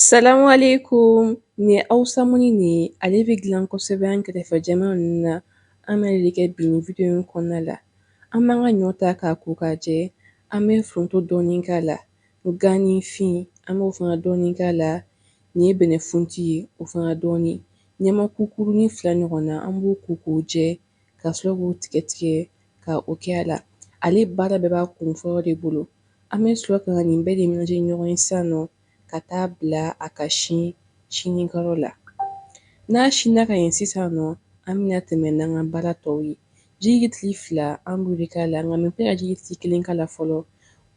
Salamu alaikum nin Hawusa mɔni in ale bɛ gilan kosɛbɛ an kɛrɛfɛ jamana ninnu na an bɛ ale de kɛ bi nin video in kɔnɔna la an b'an ka ɲɔ ta k'a ko k'a jɛ an bɛ foronto dɔɔni k'a la ganifin an b'o fana dɔɔni k'a la nin ye bɛnɛfunti ye o fana dɔɔnin ɲamaku kurunin fila ɲɔgɔn na an b'o ko k'o jɛ ka sɔrɔ k'o tigɛ tigɛ ka o kɛ a la ale baara bɛɛ b'a kun fɔlɔ de bolo an bɛ sɔrɔ ka nin bɛɛ de ɲagami ɲɔgɔn ye sisan nɔ ka taa bila a ka sin sinikɛyɔrɔ la n'a sinna ka ɲɛ sisan nɔ an bɛna tɛmɛ n'an ka baara tɔw ye ji litiri fila an b'o de k'a la nka n bɛna ji litiri kelen k'a la fɔlɔ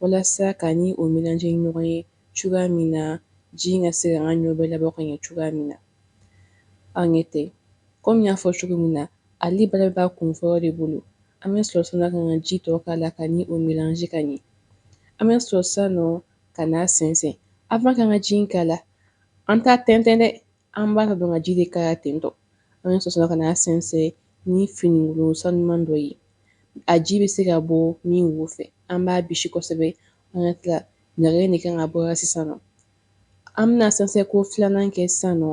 walasa ka ni o melange ɲɔgɔn ye cogoya min na ji ka se ka an ka ɲɔ bɛɛ labɔ ka ɲɛ cogoya min na Aw ɲɛ tɛ. Kɔmi n y'a fɔ cogo min na ale baara bɛɛ b'a kun fɔlɔ de bolo an bɛ sɔrɔ sisan nɔ ka ji tɔ k'a la ka ni o melange ka ɲɛ an bɛ sɔrɔ sisan nɔ ka n'a sɛnsɛn an ka kan ka ji k'a la an t'a tɛntɛn dɛ an b'a dɔn ka ji de k'a la ten tɔ an bɛ sɔrɔ ka n'a sɛnsɛn ni finikolon sanuman dɔ ye a ji bɛ se ka bɔ min wo fɛ an b'a bisi kosɛbɛ an ka tila ɲaga de kan ka bɔ sisan An bɛna sɛnsɛn ko filanan kɛ sisan nɔ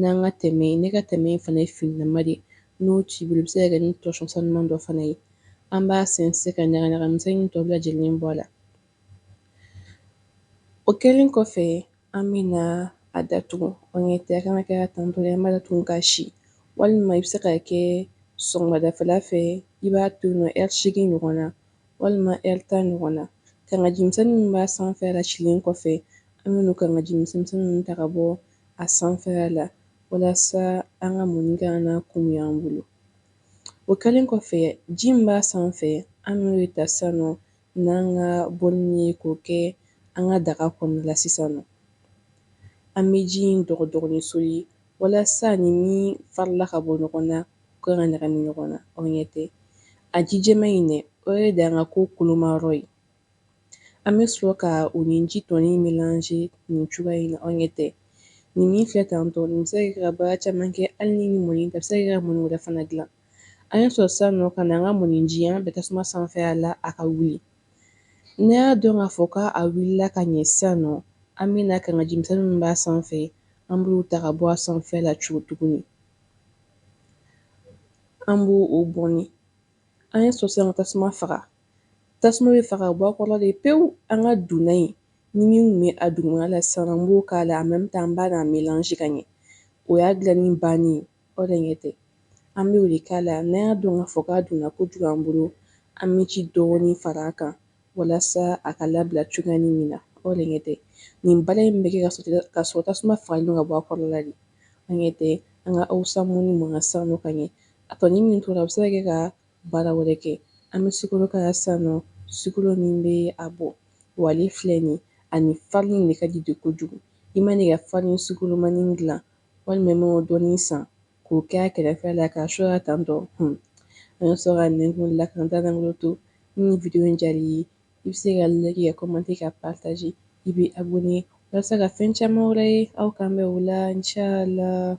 n'an ka tɛmɛ ne ka tɛmɛ in fana ye finilama de n'o t'i bolo i bɛ se k'a kɛ ni torchon sanuman dɔ fana ye an b'a sɛnsɛn ka ɲaga misɛnnin tɔ bɛɛ lajɛlen bɔ a la o kɛlen kɔfɛ an bɛna a datugu aw ɲɛ tɛ ka n'a kɛ tan tɔ an b'a to yen ka si walima i bɛ se k'a kɛ sɔgɔmadafɛla fɛ i b'a to yen ɛri seegin ɲɔgɔn na walima ɛri tan ɲɔgɔn na. Kangajimisɛnni min b'a sanfɛla silen kɔfɛ, an bɛna o kangajimisɛnmisɛnni ninnu ta ka bɔ a sanfɛla la walasa an ka mɔni kana na kumuya an bolo. O kɛlen kɔfɛ, ji min b'a sanfɛ, an bɛna o de ta sisan nɔ n'an ka bɔlini ye k'o kɛ an ka daga kɔnɔna la sisan nɔ. An bɛ ji in dɔgɔdɔgɔnin soli walasa nin min farala ka bɔ ɲɔgɔn na u kana ɲagami ɲɔgɔn na aw ɲɛ tɛ a ji jɛman in dɛ o de y'an ka ko kolomayɔrɔ ye an bɛ sɔrɔ ka o ni ji tɔni melange nin cogoya in na aw ɲɛ tɛ nin min filɛ tan tɔ nin bɛ se ka baara caman kɛ hali ni nin mɔni tɛ a bɛ se ka mɔni wɛrɛ fana dilan an ye sɔrɔ sisan nɔ ka na an ka mɔniji an bɛ tasuma sanfɛla la a ka wuli N'a y'a dɔn k'a fɔ k'a wulila ka ɲɛ sisan nɔ an bɛna kangaji misɛnnin min b'a sanfɛ an b'o ta ka bɔ a sanfɛ la cogo tuguni an b'o bɔn an ye sɔrɔ sisan ka tasuma faga tasuma bɛ faga bɔ a kɔrɔ de pewu an ka dun in nin min tun bɛ a dugumala sisan an b'o k'a la an bɛ taa an bɛ n'a melange ka ɲɛ o y'a dilanni ban ye Aw de ɲɛ tɛ. An bɛ o de k'a la n'an y'a dɔn k'a fɔ k'a donna kojugu an bolo, an bɛ ji dɔɔnin fara a kan walasa a ka labila cogoyanin min na. Aw de ɲɛ tɛ. Nin baara in bɛ kɛ ka sɔrɔ tasuma fagalen don ka bɔ a kɔrɔla de. Aw de ɲɛ tɛ. An ka awusa mɔni mɔna sisan nɔ ka ɲɛ. A tɔni min tora, a bɛ se ka kɛ ka baara wɛrɛ kɛ. An bɛ sukoro k'a la sisan nɔ, sukoro min bɛ a bɔ. Wa ale filɛ nin ye, a ni farini de ka di de kojugu. I mana i ka farini sukoromanin dilan, walima i mana dɔɔnin san k'o kɛ a kɛrɛfɛ la k'a su a la tan tɔ hun an bɛ sɔrɔ ka nɛnkun la k'an ta dagolo to ni video in diyara i ye i bɛ se ka like ka commenter ka partager i bɛ abonner walasa ka fɛn caman wɛrɛ ye aw kan bɛ o la inchallah